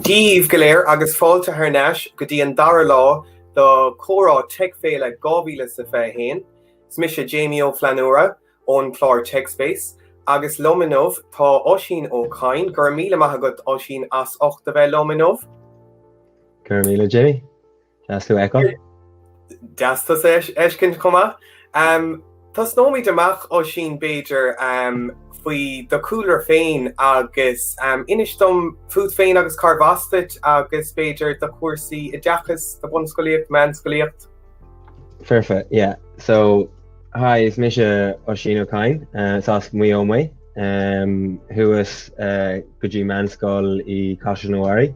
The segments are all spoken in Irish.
Dia dhaoibh go léir agus fáilte thar n-ais go dtí an dara lá do Comhrá Tech Féile 2021. Is mise Jamie Ó Flannúra ón gclár TechSpace agus liom inniu tá Oisín Ó Cadhain, go raibh míle maith agat Oisín as ucht a bheith liom inniu. Go raibh míle Jamie. Deas tú a fheiceáil. Deas tusa a fheiscint chomh maith. Tosnóimid amach Oisín b'fhéidir faoi do chúlra féin agus inis dom fút féin agus cárb as duit agus b'fhéidir do chúrsaí oideachais, do bhunscolaíocht, meánscolaíocht. Foirfe, yeah. So hi, is mise Oisín Ó Cadhain, is as Maigh Eo mé. Chuas go dtí meánscoil i Caisleán an Bharraigh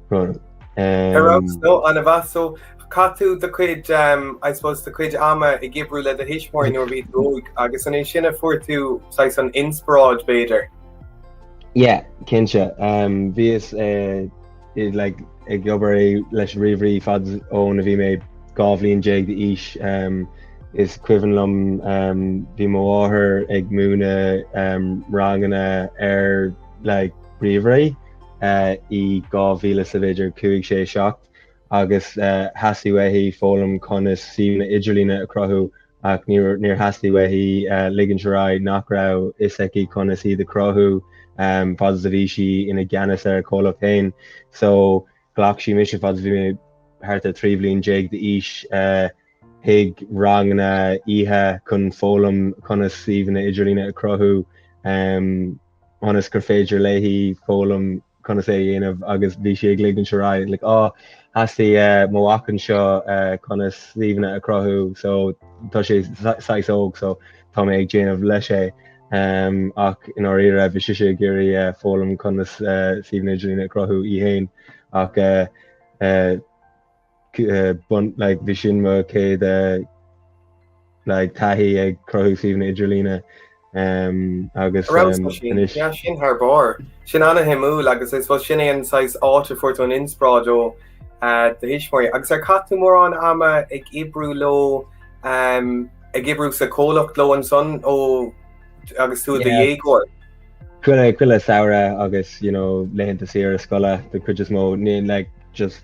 Ar fheabhas nó an mheas so? Chaith tú do chuid um, I suppose do chuid ama ag oibriú le do thuismitheoirí nuair a bhí tú óg agus an é sin a fuair tú saghas an inspioráid b'fhéidir? Yeah, cinnte. Um, bhíos eh, i- like, ag obair é- leis ríomhairí fad ón a bhí mé dhá bhliain déag d'aois. Um, is cuimhin liom um, bhí mo mháthair ag múineadh um, ranganna ar like, ríomhairí. i 2000 is b'fhéidir 5, 6, 7 agus theastaigh uaithi foghlaim conas suíomhanna idirlíne a chruthú ach níor theastaigh uaithi ligint ar aghaidh nach raibh a fhios aici conas iad a chruthú fad is a bhí sí ina gceannas ar a comhlacht féin. So ghlac sí mise fad is a bhí mé thart ar 13 bhliain d'aois chuig ranganna oíche chun foghlaim conas suíomhanna idirlíne a chruthú. ionas gur féidir léi foghlaim conas é a dhéanamh agus bhí sí ag ligint ar aghaidh like oh theastaigh mo mhac anseo conas suíomhanna a chruthú so tá sé saghas óg so tá mé ag déanamh leis é um, ach in ndáiríre bhí sise ag iarraidh uh, foghlaim conas uh, suíomhanna idirlíne a chruthú í féin ach uh, uh, Bhí sin mo chéad like taithí ag cruthú suíomhanna idirlíne agus. Sin thar barr. Sin an-shuimiúil agus I suppose sin é an saghas áit a fuair tú an inspioráid ó do thuismitheoirí. Agus ar chaith tú mórán ama ag oibriú leo, ag oibriú sa chomhlacht leo ansan ó agus tú i do dhéagóir? Chuile samhradh agus you know laethanta saoire scoile den chuid is mó, like just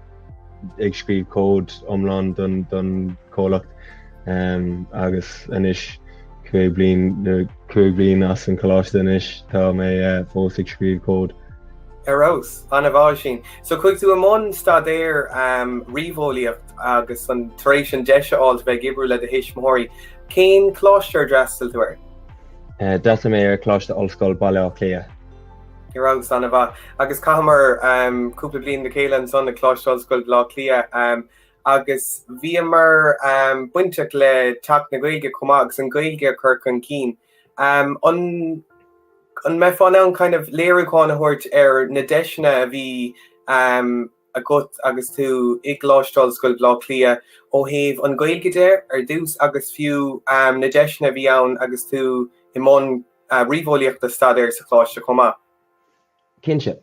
ag scríobh cód iomlán don chomhlacht agus anois cúig bliain as an coláiste anois tá mé fós ag scríobh cód. Ar fheabhas! Ana-mhaith ansin! So chuaigh tú i mbun staidéir ríomheolaíocht agus an tar éis sin deis a fháilt bheith ag oibriú le do thuismitheoirí, cén coláiste ar d'fhreastail tú air? D'fhreastail mé ar Choláiste Ollscoil Bhaile Átha Cliath. Ar fheabhas, ana-mhaith, agus chaitheamar cúpla bliain le chéile ansan ag Coláiste Ollscoile Bhaile Átha Cliath agus bhíomar bainteach le Teach na Gaeilge chomh maith agus an Ghaeilge a chur chun cinn. An mbeifeá in ann kind of léiriúchán a thabhairt ar na deiseanna a bhí agat agus tú i gColáiste Ollscoil Bhleá Cliath ó thaobh an Gaeilge de ar dtús agus fiú na deiseanna a bhí ann agus tú i mbun ríomheolaíocht a staidéar sa choláiste chomh maith? Cinnte.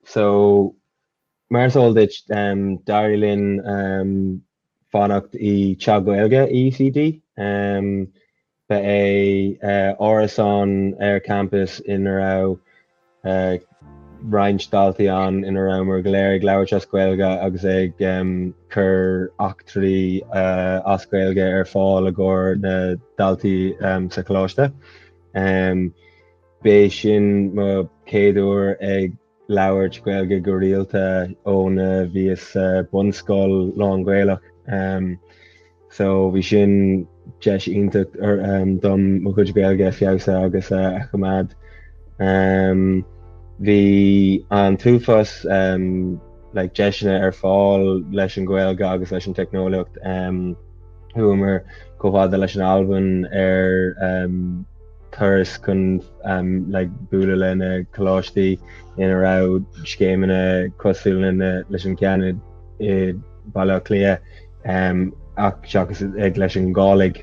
So mar is eol duit d'éirigh linn fanacht i dTeach na Gaeilge i UCD. Ba é árasán ar champas ina raibh roinnt daltaí ann ina rabhamar go léir ag labhairt as Gaeilge agus ag cur eachtraí as Gaeilge ar fáil i gcomhair na ndaltaí sa choláiste. Ba é sin mo chéad uair ag labhairt Gaeilge go rialta óna bhíos sa bunscoil lán-Ghaelach so bhí sin deis iontach dom mo chuid Gaeilge a fheabhsú agus a choimeád. Bhí an t-uafás like deiseanna ar fáil leis an Ghaeilge agus leis an teicneolaíocht. Chuamar chomh fada leis an Albain ar turas chun like bualadh le na coláistí ina raibh scéimeanna cosúla leis an ceann i mBaile Átha Cliath ach seachas ag leis an nGàidhlig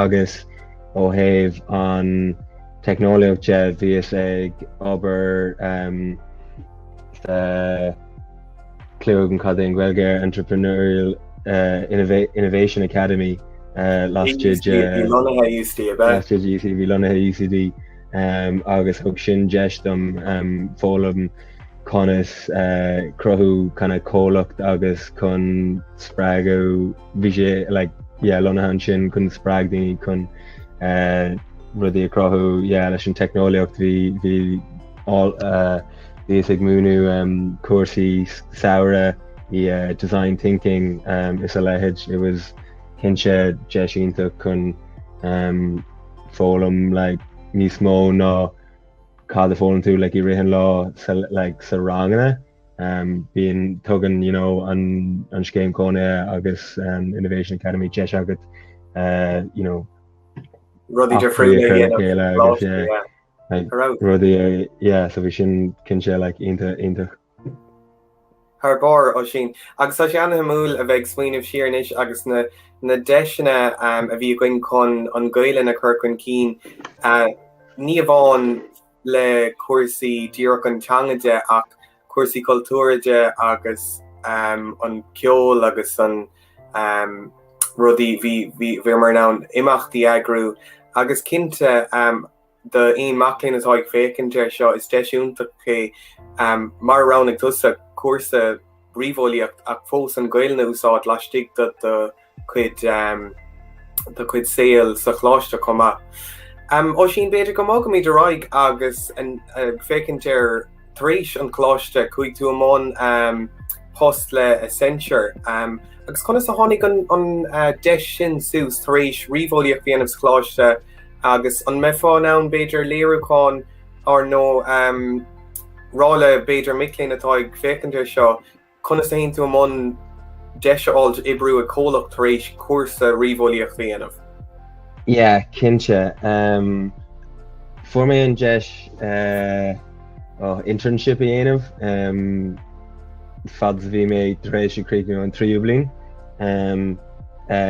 agus ó thaobh an teicneolaíocht de bhíos ag obair sa Clúdaigh an caidéan Gaeilge ar Entrepreneurial Innovation Academy laistigh de, bhí lonnaithe UCD agus thug sin deis dom foghlaim conas cruthú kinda comhlacht agus chun spreagadh bhí sé like lonnaithe ansin chun spreag daoine chun rudaí a chruthú leis an teicneolaíocht bhí Bhíos ag múineadh cúrsaí samhraidh i Design Thinking is a leithéid. It was cinnte deis iontach chun foghlaim like níos mó ná cad a fhoghlaim tú like i rith an lá sa like sa ranganna. Bíonn, tugann you know an scéim cónaithe agus Innovation Academy deis agat you know eachtraí a chur le chéile agus yeah. like, rudaí yeah so bhí sin cinnte like iontach iontach. Thar barr, Oisín. Agus tá sé an-shuimiúil a bheith ag smaoineamh siar anois agus na na deiseanna a bhí againn chun an Ghaelainn a chur chun cinn, ní amháin le cúrsaí díreach an teanga de ach cúrsaí cultúrtha de agus an ceol agus rudaí, bhíomar in ann imeachtaí a eagrú agus cinnte d'aon mac léinn atá ag féachaint ar seo, is deis iontach é mar a roghnaigh tusa cúrsa ríomheolaíocht ach fós an Ghaelainn a úsáid laistigh de do cuid do cuid saoil sa choláiste chomh maith. Oisín b'fhéidir go mbogfaimid ar aghaidh agus ag féachaint ar tar éis an coláiste chuaigh tú i mbun post le Accenture agus conas a tháinig an deis sin suas tar éis ríomheolaíocht a dhéanamh sa choláiste agus an mbeifeá in ann b'fhéidir léiriúchán or nó rá le b'fhéidir mic léinn atá ag féachaint ar seo Conas a théann tú i mbun deis a fháil d'oibriú ag comhlacht tar éis cúrsa ríomheolaíochta a dhéanamh? Yeah, cinnte. Fuair mé an deis internship a dhéanamh fad is a bhí mé tar éis ag críochnú an tríú bliain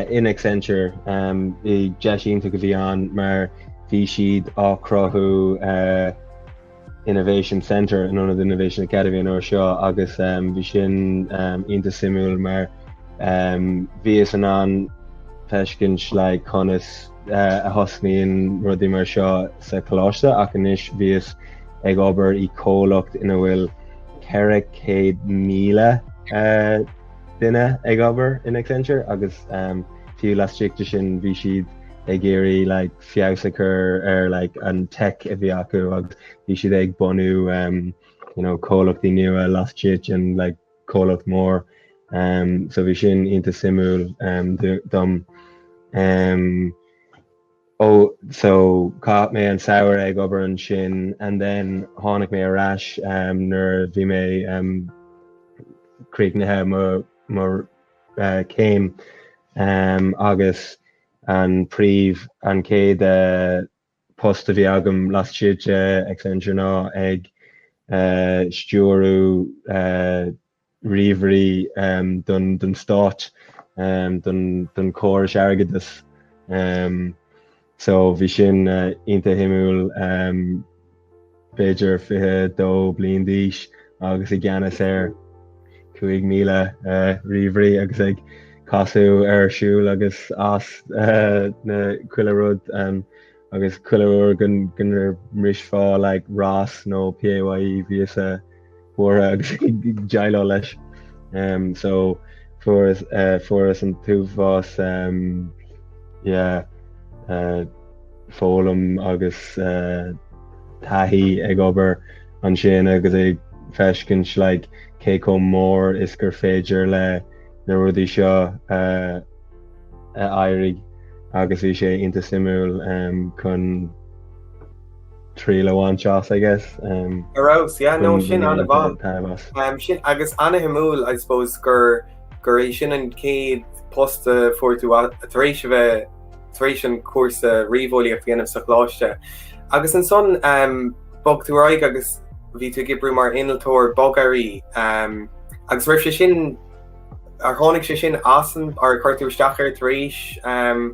in Accenture. Deis iontach a bhí ann mar bhí siad ag cruthú Innovation Centre in ionad Innovation Academy an uair seo agus bhí sin iontach suimiúil mar bhíos in ann feiscint like conas a thosnaíonn rudaí mar seo sa choláiste ach anois bhíos ag obair i comhlacht ina bhfuil 400,000 duine ag obair in Accenture agus fiú laistigh de sin bhí siad ag iarraidh like feabhas a chur ar like an teic a bhí acu agus bhí siad ag bunú um, you know, comhlachtaí nua laistigh den like, comhlacht mór. Um, so bhí sin iontach suimiúil um, dom. Um, oh, so chaith mé an samhradh ag obair ansin and then tháinig mé ar ais um, nuair bhí mé um, críochnaithe mo, mo uh, céim um, agus An príomh, an chéad eh, post a bhí agam laistigh de Accenture ná ag eh, stiúradh eh, ríomhairí em, don, don stáit, em, don, don chóras airgeadais. Em, so bhí sin eh, iontach shuimiúil. Em, b'fhéidir 22 bliain d'aois agus i gceannas ar 5,000 ríomhairí agus ag casadh ar siúl agus as, ná chuile rud agus chuile uair go mbrisfeá like ROS nó PAYE bhíos buartha agus ag déileáil leis. So fuaireas an t-uafás foghlaim agus taithí ag obair ansin agus ag feiscint like cé chomh mór is gur féidir leis na rudaí seo éirí agus bhí sé iontach suimiúil chun triail a bhaint as I guess. Um, Ar fheabhas, yeah, no, sin ana-mhaith. Um, sin, agus ana-shuimiúil, I suppose, gur, gur é sin an céad post a fuair tú a- tar éis a bheith tar éis an cúrsa ríomheolaíocht a dhéanamh sa choláiste. Agus ansan um, bog tú ar aghaidh agus bhí tú ag oibriú mar innealtóir bogearraí. Um, agus raibh sé sin, ar tháinig sé sin as an, ar chuir tú isteach ar tar éis um,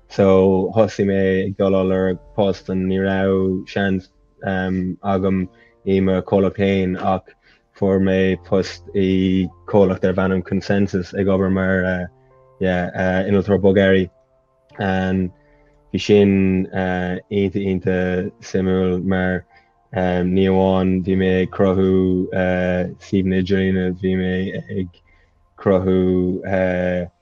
so thosaigh mé ag dul ar lorg post and ní raibh seans ehm agam i mo chomhlacht féin ach fuair mé post i chomhlacht darb ainm ConsenSys ag obair mar eh yeah eh innealtóir bogearraí and bhí sin eh iontach iontach suimiúil mar ehm ní amháin bhí mé ag cruthú eh suíomhanna idirlíne bhí mé ag cruthú eh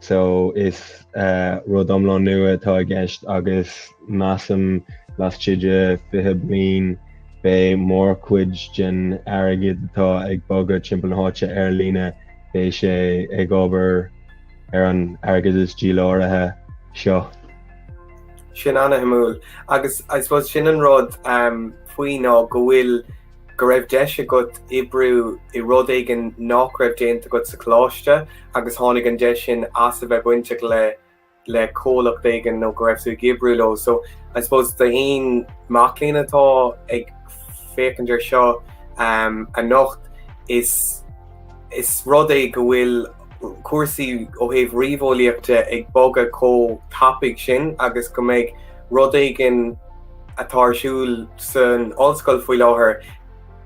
so is rud iomlán nua atá i gceist agus measaim laistigh de 20 bliain beidh mórchuid den airgead atá ag bogadh timpeall na háite ar líne, beidh sé ag obair ar an airgeadas díláraithe seo. Sin an-shuimiúil agus I suppose sin an rud faoi ná go bhfuil Go raibh deis agat oibriú i rud éigin nach raibh déanta agat sa choláiste agus tháinig an deis sin as a bheith bainteach le le comhlacht éigin nó go raibh tú ag oibriú leo. So I suppose d'aon mac léinn atá ag féachaint ar seo anocht is is rud é go bhfuil cúrsaí ó thaobh ríomheolaíocht de ag bogadh chomh tapaidh sin agus go mbeidh rud éigin atá ar siúl san ollscoil faoi láthair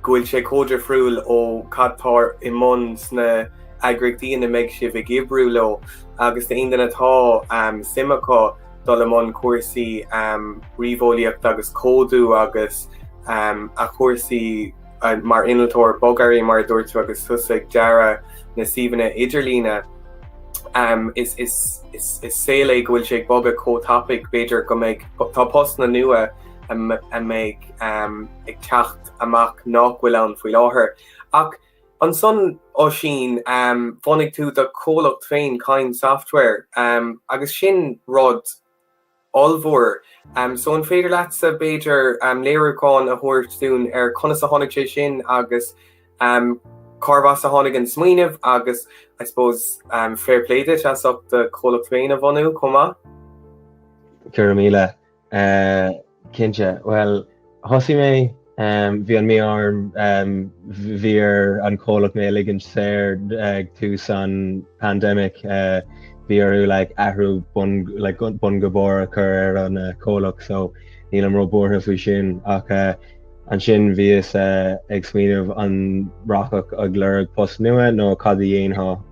go bhfuil sé chomh difriúil ó cad tá i mbun sna eagraíochtaí ina mbeidh sibh ag oibriú leo agus d'aon duine atá um, suim acu dul i mbun cúrsaí um, ríomheolaíocht agus códú agus um, a chúrsaí mar innealtóir bogearraí, mar a dúirt tú, agus tusa ag dearadh na suíomhanna idirlíne, is saol é go bhfuil sé ag bogadh chomh tapaidh, b'fhéidir go mbeidh, tá postanna nua a mbeidh ag teacht amach nach bhfuil ann faoi láthair. Ach ansan Oisín, bhunaigh tú do chomhlacht féin, Kind Software, agus sin rud. ollmhór. So an féidir leatsa b'fhéidir léiriúchán a thabhairt dúinn ar conas a tháinig sé sin agus cárbh as a tháinig an smaoineamh agus I suppose fair play duit as ucht do chomhlacht féin a bhunú chomh maith. Go raibh míle. Cinnte, bhuel. Thosaigh mé, bhí an mí-ádh orm, bhí ar an comhlacht mé a ligint saor ag tús an pandemic, bhí orthu like athrú bun like bun go barr a chur ar an comhlacht so nílim ró buartha faoi sin ach ansin bhíos ag smaoineamh an rachfá ag lorg post nua nó cad a dhéanfá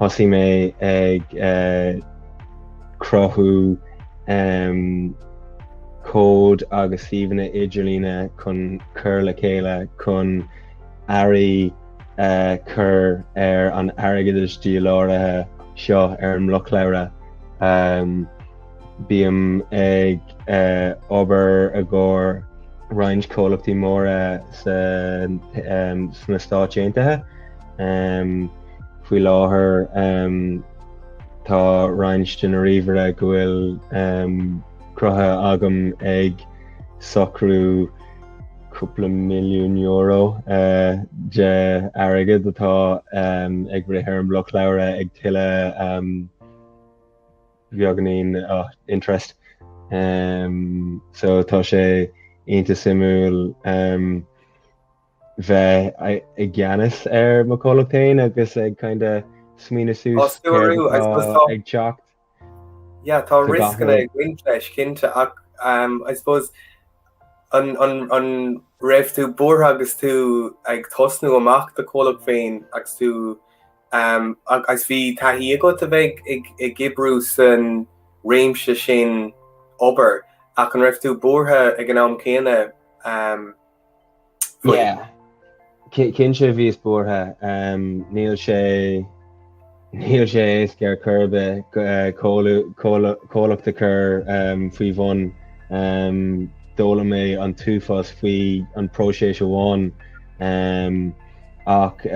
thosaigh mé ag cruthú cód agus suíomhanna idirlíne chun cur le chéile chun earraí a chur ar an airgeadais díláraithe seo ar an mblocshlabhra. Bím ag obair i gcomhair roinnt comhlachtaí móra sna Stáit Aontaithe. Faoi láthair tá roinnt de na ríomhchláir go bhfuil cruthaithe agam ag socrú cúpla milliún euro de airgead atá ag rith ar an mblocshlabhra ag tuilleadh beaganín interest so tá sé iontach suimiúil. bheith i gceannas ar mo comhlacht féin agus ag kind of smaoineamh suas céard atá ag teacht. Yeah, tá rioscanna ag roinnt leis cinnte ach um, I suppose an, an, an raibh tú buartha agus tú ag tosnú amach do chomhlacht féin agus tú um, ag- agus bhí taithí agat a bheith ag, ag oibriú san réimse sin obair ach an raibh tú buartha ag an am céanna um, Yeah. Cinnte bhíos buartha? Níl sé níl sé éasca ar chor ar bith comhlacht a chur ar bun. D'fhoghlaim mé an t-uafás faoi an próiseas amháin ach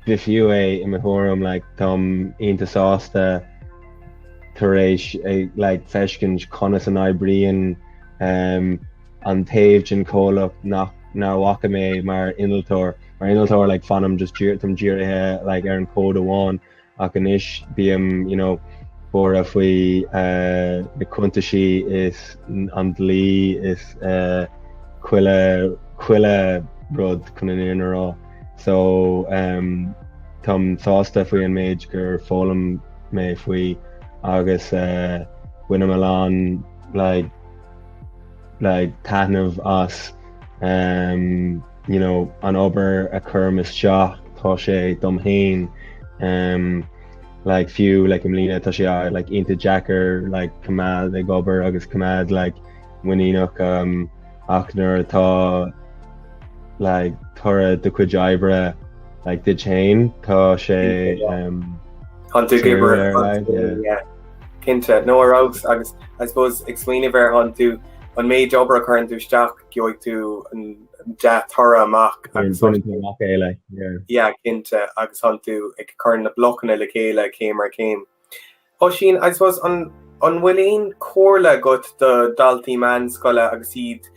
b'fhiú é i mo thuairim. Táim iontach sásta tar éis like feiscint conas a n-oibríonn. an taobh den chomhlacht nach bhfaca mé mar innealtóir, mar innealtóir like fanaim just dír, táim dírithe like ar an cód amháin ach anois bím you know buartha faoi uh, na cuntaisí is an dlí is uh, chuile chuile rud chun an fhírinne a rá so um, táim sásta faoi an méid gur fhoghlaim mé faoi agus uh, bainim a lán like like taitneamh as you know an obair a chuirim isteach, tá sé dom fhéin fiú i mbliana tá sé iontach deacair coimeád ag obair agus coimeád muiníneach ach nuair atá toradh do chuid oibre duit fhéin tá sé Cinnte, no ar fheabhas agus I suppose ag smaoineamh ar tánn tú an méid obair a chuireann tú isteach gheobhaidh tú an dea-toradh amach. Yeah, cinnte agus tánn tú ag cur na blocanna le chéile céim ar céim. Oisín, I suppose an an bhfuil aon comhairle agat do daltaí meánscoile agus iad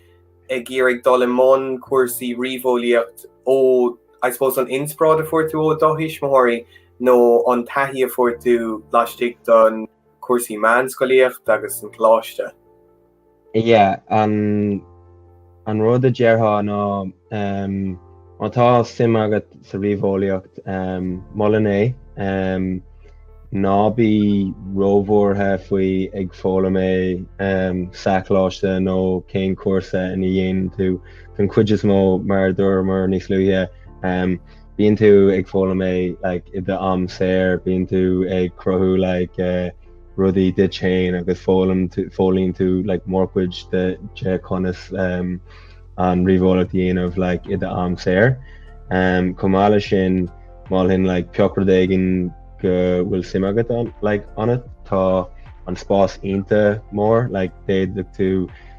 ag iarraidh dul i mbun cúrsaí ríomheolaíocht ó I suppose an inspioráid a fuair tú ó do thuismitheoirí nó an taithí a fuair tú laistigh den chúrsaí meánscolaíocht agus san choláiste? Yeah, an rud a déarfá ná má tá suim agat sa ríomheolaíocht, molainn é. Ná bí róbhuartha faoi ag foghlaim é sa choláiste nó cén cúrsa ina dhéanann tú don chuid is mó, mar a dúramar níos luaithe. Bíonn tú ag foghlaim é like i do am saor, bíonn tú ag cruthú like eh, rudaí duit féin agus foghlaim tú, foghlaíonn tú like mórchuid de de conas em, an ríomheolaíocht a dhéanamh like i do am saor. Em, chomh maith leis sin, mholfainn like pioc rud éigin go bhfuil suim agat an- like ionat, tá an spás iontach mór like d'fhéadfadh tú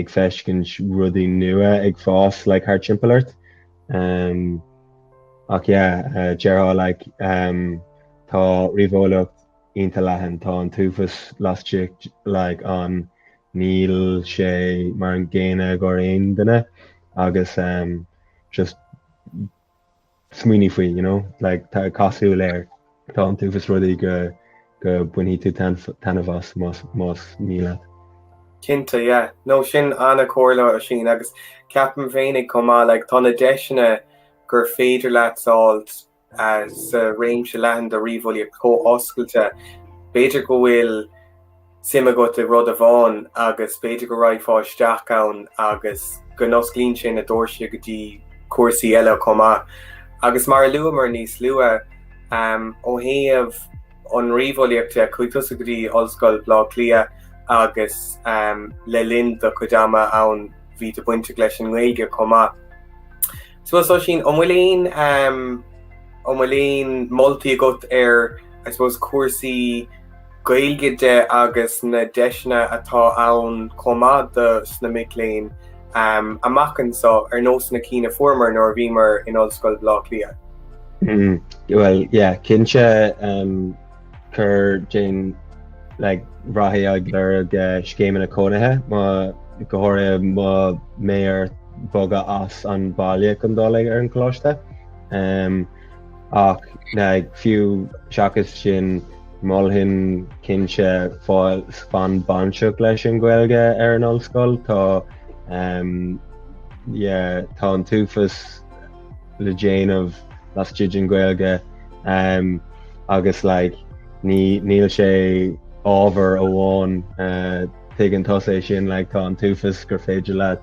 ag feiscint rudaí nua ag fás like thart timpeall ort umm ach yeah déarfá like umm tá ríomheolaíocht ionta leathan tá an t-uafas laistigh like ann níl sé mar an gcéanna ag gach aon duine agus umm just smaoinigh faoi, you know, like, tá cosúil air tá an t-uafás rudaí go go bainfidh tú taitneamh as más más mian leat. Cinnte, yeah. No, sin an-chomhairle Oisín agus ceapaim féinig chomh maith, like, tá na deiseanna gur féidir leat a fháil as réimse leathan den ríomheolaíocht chomh oscailte, b'fhéidir go bhfuil, suim agat i rud amháin agus b'fhéidir go raghfá isteach ann agus go n-osclaíonn sin na doirse go dtí cúrsaí eile chomh maith. Agus mar a luamar níos luaithe, ó thaobh an ríomheolaíocht de, chuaigh tusa go dtí Ollscoil Bhleá Cliath agus le linn do chuid ama ann bhí tú bainteach leis an nGaeilge chomh maith. So Oisín, an bhfuil aon, an bhfuil aon moltaí agat ar, I suppose, cúrsaí, Gaeilge de agus na deiseanna atá ann chomh maith do sna mic léinn amach anseo ar nós na cinn a fuaireamar nuair a bhíomar in Ollscoil Bhleá Cliath. Bhuel yeah cinnte cuir déan like breathnaigh ag lorg scéimeanna cónaithe má go háirithe má bheidh ort bogadh as an bhaile chun dul ar an choláiste. ach fiú seachas sin mholfainn cinnte fan fan bainteach leis an Ghaeilge ar an ollscoil. Tá um yeah tá an t-uafas le déanamh laistigh den Ghaeilge um agus like ní níl sé ábhar amháin uh tuigeann tusa é sin like tá an t-uafas gur féidir leat